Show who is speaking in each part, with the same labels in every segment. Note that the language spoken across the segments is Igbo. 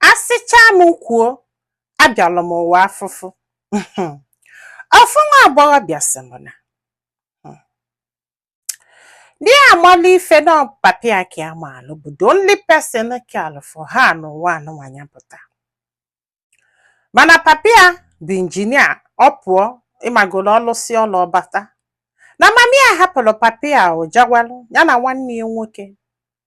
Speaker 1: Asịchaa m kwuo, abịalụ m ụwa afụfụ. Ofu nwa agbọghọbịa sị m na di ya amalụ ife na ọ bụ papa ya ka ya maalụ bụ the only person ka alụ for ha n'ụwa anụnwa ya pụta. Mana papa ya bụ injinia ọ pụọ ị magolo ọ lụsịa ọlụ ọ bata. Na mami ya hapụrụ papa ya o jawalụ ya na nwanne ya nwoke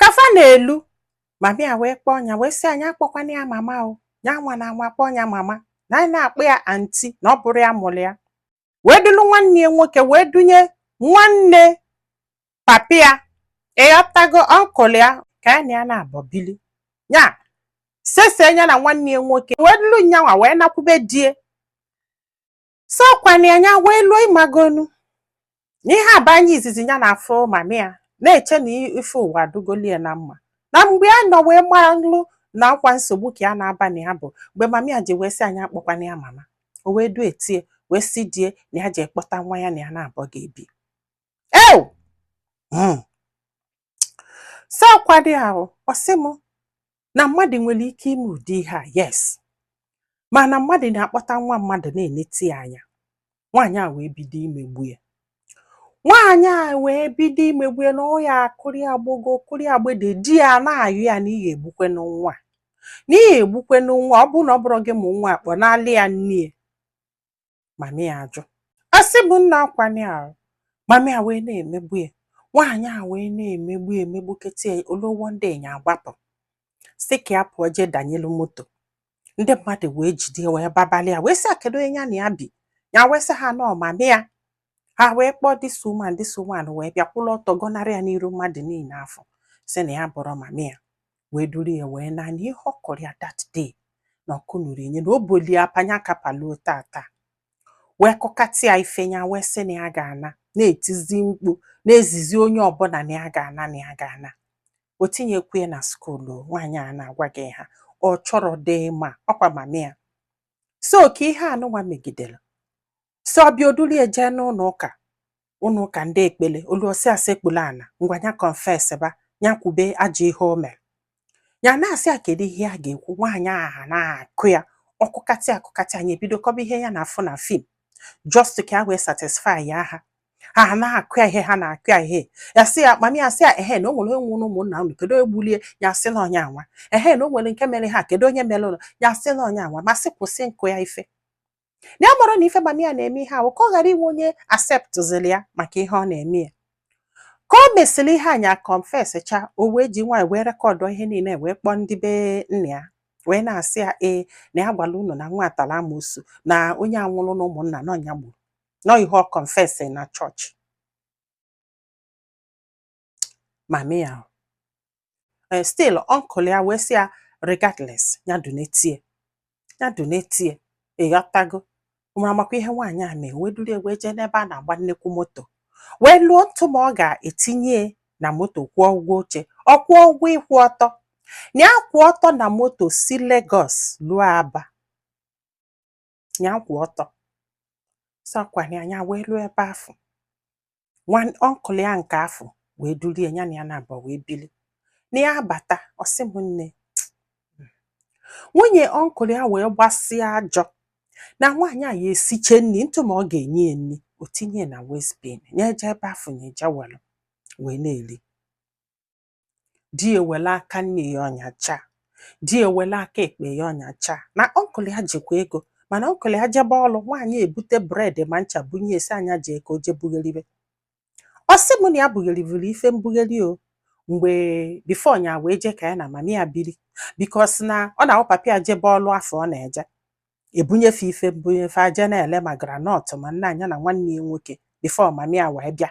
Speaker 1: ka fa na-elu mami ya wee kpọọ ya wee sị ya nya akpọkwana ya mama o ya anwana anwa kpọọ ya mama na nya na-akpọ ya anti na ọ bụrọ ya mụrụ ya wee dulu nwanne ya nwoke wee dunye nwanne papi ya ị ghọtago ọnkụl ya ka ya na ya naabọ bili ya sese ya na nwanne ya nwoke wee dulu nya nwa wee nakwube di ya so ọkwa na nya wee luo ị magonu na ihe a bụ anya izizi ya na-afụ mami ya na-eche na ife ụwa adịgoli ya na mma na mgbe a nọ wee malụ na ọkwa nsogbu ka ya na-aba na ya bụ mgbe mami ya ji wee sị ya nya akpọkwana ya mama o wee dute ya wee sị di ya na ya jee kpọta nwa ya na ya naabọ ga-ebi ew so ọkwa di ahụ ọ sị m na mmadụ nwere ike ime ụdị ihe a yes mana mmadụ na-akpọta nwa mmadụ na-eneti ya anya nwaanyị a wee bido imegbu ya nwaanyị a wee bido imegbu ya na ọ ya akụrị agbogo kụrị agbede di ya na-ayọ ya na ị ya-egbukwenụ nwa na ị ya-egbukwenụ nwa ọ bụrụ na ọ bụrọ gị mụ nwa a kpọnalị ya nne mami ya ajụ asị bụ na ọkwa nya ahụ mami ya wee na-emegbu ya nwaanyị a wee na-emegbu ya emegbukata ya o luo one day nya agbapụ sị ka ya pụọ jee danyelu moto ndị mmadụ wee jide wee babalị ya wee sị ya kedu onye ya na ya bi ya wee sị ha na ọ mami ya ha wee kpọọ this woman this woman wee bịa kwụlụ ọtọ gọnarị ya n'iru mmadụ niile afụ sị na ya abụrọ mami ya wee duru ya wee naa na ihe ọ kụrụ ya that day na ọkụ nụrụ enye na o bolu ya apa nya ka pa luo taata wee kụkata ya ife ya wee sị na ya ga-ana na-etizi mkpu na-ezizi onye ọbụla na ya ga-ana na ya ga-ana o tinyekwu ya na skuulu nwaanyị a na-agwa gị ha ọ chọrọ dị ma ọkwa mami ya so ka ihe anụnwa megidere so ọ bịa o dulu ya jee n'ụlọ ụka ụlọ ụka ndị ekpele o luo sị ya sekpulu ana ngwa ya confess ba ya kwube ajọ ihe o mere ya na-asị ya kedu ihe ya ga-ekwu nwaanyị ahụ na-akụ ya ọ kụkata ya kụkata ya nya ebido kọba ihe ya na-afụ na film just ka ya wee satisfy ha ha na-akụ ya ihe ha na-akụ ya ihe ya sị ya mami ya sị ya ehe na o nwere onye nwụrụ n'ụmụnna unu kedu onye gbulu ya ya sị na onye anwa ehe na o nwere nke mere ha kedu onye merenụ ya sị na onye anwa ma sị kwụsị ịkụ ya ife na ya mara na ife mami ya na-eme ihe ahụ ka ọ ghara inwe onye aseptụziri ya maka ihe ọ na-eme ya ka o mesịrị ihe a nya kọnfesịcha o wee ji nwayọ wee rekọdụ ihe niile wee kpọọ ndị be nna ya wee na-asị ya ee na ya gwara unu na nwa a tara amosu na onye a nwụrụ na ụmụnna na ọ nya gburu na ọ ihe ọ kọnfesị na chọọchị mami ya ee stil ọnkụl ya wee sị ya regardless ya dunetie ya dunetie ịghọtago ma makwa ihe nwaanyị a mee wee duru wee jee n'ebe a na-agba nnekwu moto wee luo ntụma ọ ga-etinye na moto kwụọ ụgwọ oche ọ kwụọ ụgwọ ịkwụ ọtọ na ya kwụ ọtọ na moto si Lagos luo Aba ya kwụ ọtọ sịkwa na nya wee ruo ebe afụ nwa ọnkụl ya nke afụ wee duru ya nya na ya naabọ wee bili na ya abata ọ sị m nne nwunye ọnkụl ya wee gbasịa ajọ na nwaanyị a ya esiche nri ntụma ọ ga-enye ya nri o tinye na westbin nya eje ebe afụ nya eje welụ wee na-eri di ya ewere aka nni ya ọnyachaa di ya ewere aka ekpe ya ọnyachaa na ọnkụl ya jikwa ego mana ọnkụl ya jebe ọrụ nwaanyị ebute bred ma ncha bunye ya sị nya jee ka o je bugheribe ọ sị m na ya bugherivuru ife mbugheri o mgbe bifo nya wee jee ka ya na mama ya biri bikos na ọ na-awụ papa ya jebe ọrụ afụ ọ na-eje ebunye fa ife mbunye fa eje na-ele ma granọt ma nna nya na nwanne ya nwoke bifo mama ya wee bịa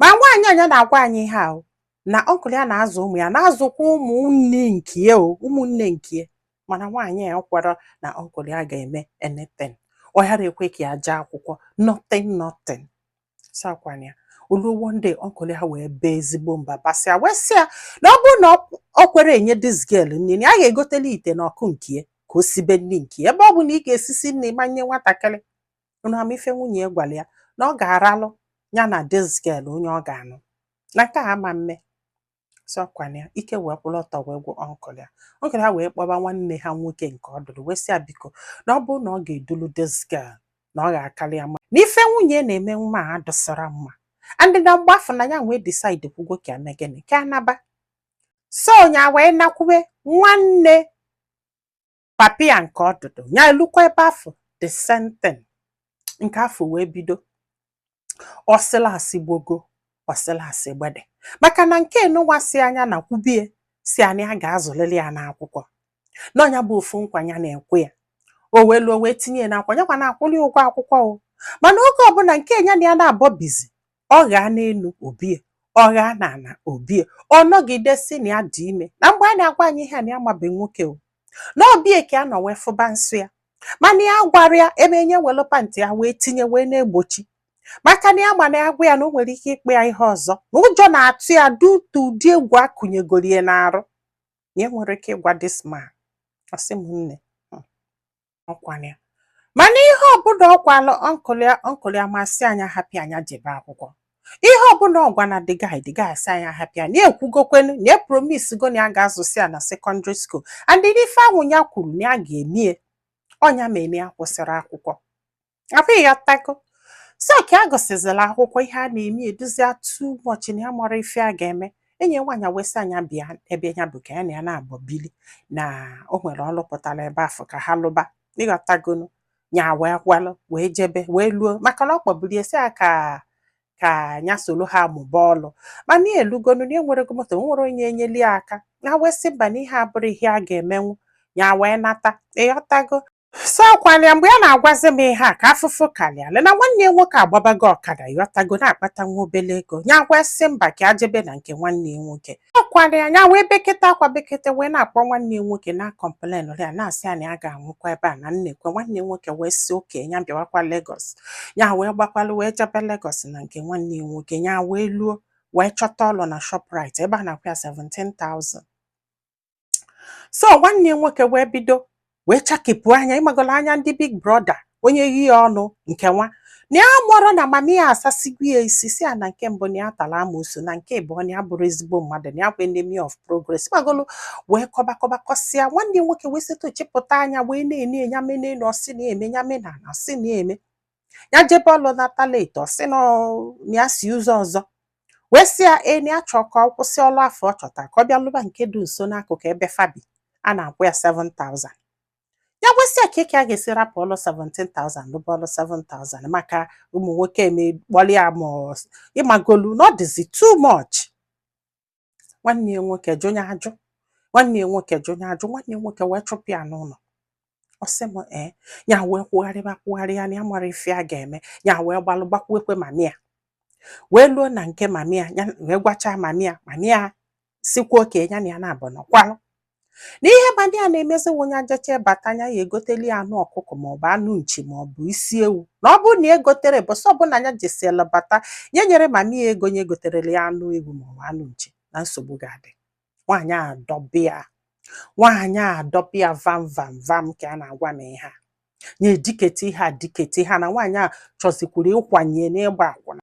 Speaker 1: ma nwaanyị a nya na-agwa anyị ihe ahụ na ọnkụl ya na-azụ ụmụ ya na-azụkwa ụmụnne nke ya o ụmụnne nke ya mana nwaanyị a ekwerọ na ọnkụl ya ga-eme anything ọ ghara ekwe ka ya jee akwụkwọ nothing nothing sịkwa na ya o luo one day ọnkụl ya wee baa ezigbo mba basịa wee sị ya na ọ bụrụ na o kwerọ enye dis girl nri na ya ga-egotelụ ya ite na ọkụ nke ya ka o sibe nri nke ya ebe ọ bụ na ị ga-esisi nri ma nye nwatakịrị unu ama ife nwunye ya gwara ya na ọ ga-arọlụ ya na dis girl onye ọ ga-anụ na nke a ama mme sịkwa na ya ike wee kwụrụ ọtọ wee gwụ ọnkụl ya ọnkụl ya wee kpọba nwanne ha nwoke nke ọdụdụ wee sị ya biko na ọ bụrụ na ọ ga-edulu dis girl na ọ ga-akarị ya mma na ife nwunye na-eme nwa a adịsirọ mma and na mgbe afụ na ya wee decide kwugo ka ya mee gịnị ka ya naba so nya wee nakwube nwanne papa ya nke ọdụdụ ya elukwa ebe afụ the same thing nke afụ wee bido ọsịla asị gbogo ọsịla asị gbede maka na nke nunwa sị nya na kwubie sị na ya ga-azụlili ya n'akwụkwọ na ọ nya bụ ofu nkwa ya na-ekwe ya o wee luo wee tinye ya n'akwa nyakwa na-akwụli ụgwọ akwụkwọ o mana oge ọbụla nke nya na ya naabọ bizi ọ ghaa n'elu o bie ọ ghaa n'ala o bie ọ nọgide sị na ya dị ime na mgbe a na-agwa anyị ihe a na ya amabe nwoke o na ọ be ya ka ya nọ wee fụba nsọ ya mana ya agwarọ ya ebe enye welu pantị ya wee tinye wee na-egbochi maka na ya ma na ya gwa ya na o nwere ike ịkpọ ya ihe ọzọ na ụjọ na-atụ ya due to ụdị egwu akụnyegoro ya n'arụ na ya enwerọ ike ịgwa this man ọ sị m nne ọkwa nya mana ihe ọbụla ọ gwalụ uncle ya uncle ya ma asị ya nya hapụ ya nya jebe akwụkwọ ihe ọbụla ọ gwa na the guy the guy asị ya nya hapụ ya na ya ekwugokwenu na ya epromise go na ya ga-azụsi ya na secondary school and ife ahụ ya kwuru na ya ga-eme ya ọ nya mere ya kwụsịrị akwụkwọ afụ ịghọtago so ka ya gụsịzịla akwụkwọ ihe a na-eme adịzị ya too much na ya amarọ ife ya ga-eme enyi ya nwaanyị wee sị ya nya bịa ebe ya bi ka ya na ya na-abọ bili na o nwere ọlụ pụtara ebe afụ ka ha lụba ịghọtagonu nya wee kwalụ wee jebe wee luo maka na ọ kpọburu ya sị ya ka nya solo ha mụba ọlụ mana ya elugonu na enwerọ ego moto enwerọ onye enyeli ya aka nya wee sị mba na ihe a abụrọ ihe ya ga-emenwu nya wee nata ịghọtago so ọkwa nya mgbe ya na-agwazi m ihe a ka afụfụ karịala ya na nwanne ya nwoke agbabago ọkada ịghọtago na-akpata nwa obele ego nya wee sị mba ka ya jebe na nke nwanne ya nwoke ọkwa nya nya wee bekete akwa bekete wee na-akpọ nwanne ya nwoke na-acomplainrị ya na-asị ya na ya ga-anwụkwa ebe a na nnekwe nwanne ya nwoke wee sị okay nya bịawakwa Lagos ya wee gbakwalụ wee jebe Lagos na nke nwanne ya nwoke ya wee luo wee chọta ọlụ na Shoprite ebe a na-akwụ ya 17,000 so nwanne ya nwoke wee bido wee chakepụ anya ịmagolo anya ndị big brother onye yi ya ọnụ nke nwa na ya amarọ na mami ya asasigo ya isi sị ya na nke mbụ na ya tara amoosu na nke ịbụọ na ya abụrọ ezigbo mmadụ na ya bụ enemy of progress ịmagolo wee kọba kọba kọsịa nwanne ya nwoke wee sịtụ chịpụta anya wee na-ene ya mene na ọsị na-eme ya mena na ọsị na-eme ya jebe ọlụ nata late ọ sị na ọ- na ya si ụzọ ọzọ wee sị ya ee na ya chọọ ka ọ kwụsị ọlụ afụ ọ chọta ka ọ bịa lụba nke dị nso n'akụkụ ebe fa bi a na-akwụ ya 7000 ya wee sị ya kee ka ya ga-esi rapụ ọlụ 17000 lụba ọlụ 7000 maka ụmụ nwoke emekpọrọ ya ma ọ- ịmagolu na ọ dịzi too much nwanne ya nwoke jụ ya ajụ nwanne ya nwoke jụ ya ajụ nwanne ya nwoke wee chụpụ ya n'ụlọ ọ sị m ee ya wee kwugharịba kwugharịa na ya amarọ ife ya ga-eme ya wee gbalụ gbakwuekwe mami ya wee luo na nke mami ya ya wee gwachaa mami ya mami ya sịkwa okay ya na ya na-abọ nọkwalụ na ihe mami ya na-emezi wụ nya jechaa bata nya ya egoteli ya anụ ọkụkọ maọbụ anụ nchi maọbụ isi ewu na ọ bụrụ na ya egotere ụbọsị ọbụla nya jesiela bata ya nyere mami ya ego nya egoterela ya anụ ewu maọbụ anụ nchi na nsogbu ga-adị nwaanyị adọbịa nwaanyị adọbịa vam vam vam ka a na-agwa m ihe a nya edikete ihe a dikete ihe a na nwaanyị a chọzikwuru ịkwanye n'ịgba akwụna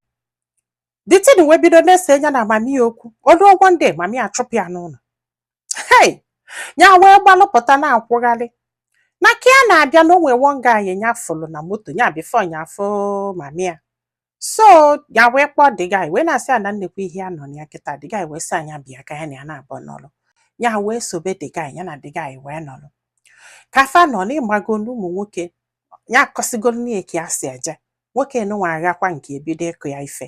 Speaker 1: the thing wee bido na-ese nya na mami ya okwu o lu one day mami ya achụpụ ya n'ụlọ hei ya wee gbalụpụta na-akwụgharị na ka ya na-abịa na o nwe one guy nya fụlụ na moto ya before nya afụ mami ya so ya wee kpọọ the guy wee na-asị ya na neekwa ihe ya nọ na ya kịta the guy wee sị nya bịa ka ya na ya naabọ nọlụ ya wee sobe the guy ya na the guy wee nọlụ ka fa nọ n'ịgbago n'ụmụ nwoke ya akọsigo nne ya ka ya si eje nwoke nụnwa aghakwa nke ebido ịkụ ya ife